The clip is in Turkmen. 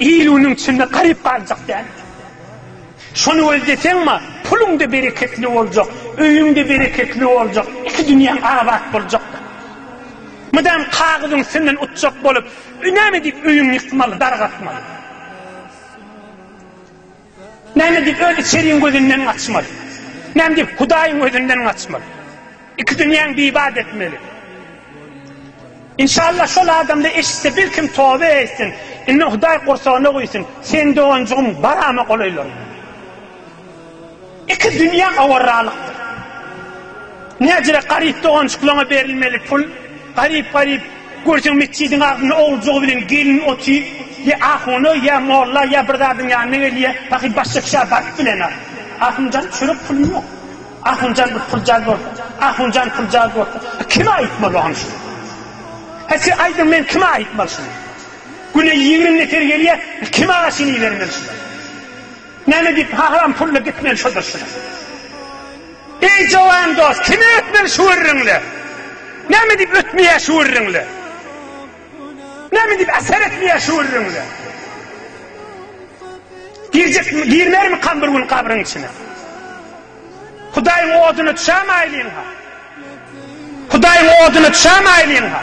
Il unuň içinde garyp galjak däl. Şony ol deseňma, puluň-da bereketli boljak, öýüň-de bereketli boljak, iki dünýäň abat boljak. Mydam kagyzyň üstünden utjak bolup, näme diýip öýüňi ýykmaly, dargatmaly? Näme diýip, öz içeriň gözünden gaçmaly? Näme diýip, Hudaýyň gözünden gaçmaly? Iki dünýäň bibat etmeli. Inşallah şol adamda eşitse bir kim tobe etsin. Indi Hudaý gursagyna guýsun. Sen doganjygym barama golaýlar. Iki dünýä awarralykdyr. Näcirek garyp doganjyklaňa berilmeli pul, garyp-garyp görseň metjidiň agzynda oguljygy bilen gelin oty, ýa ahuna, ýa molla, ýa bir zadyň ýanyna gelýä, pahyr başda kişä baryp bilenok. Ahunjan çörek puly ýok. Ahunjan bir puljaz bolsa, ahunjan puljaz bolsa, a kime aýtmaly oňa şuny? Hä siz aýdyň men kime aýtmaly şuny? Güne ýigrimi nefer gelýä, kime aşyny ibermeli şular? Näme diýip haram pulla gitmeli şo durşuna. Eý jowan dost kime ötmeli şu gürrüňle. Näme diýip ötmeýär şu gürrüňle. Näme diýip äser etmeýär şu gürrüňle. Girjek mi girmer mi kan bir gün kabryň içine. Hudaýyň oduna düşäm aýlyň ha. Hudaýyň oduna düşäm aýlyň ha.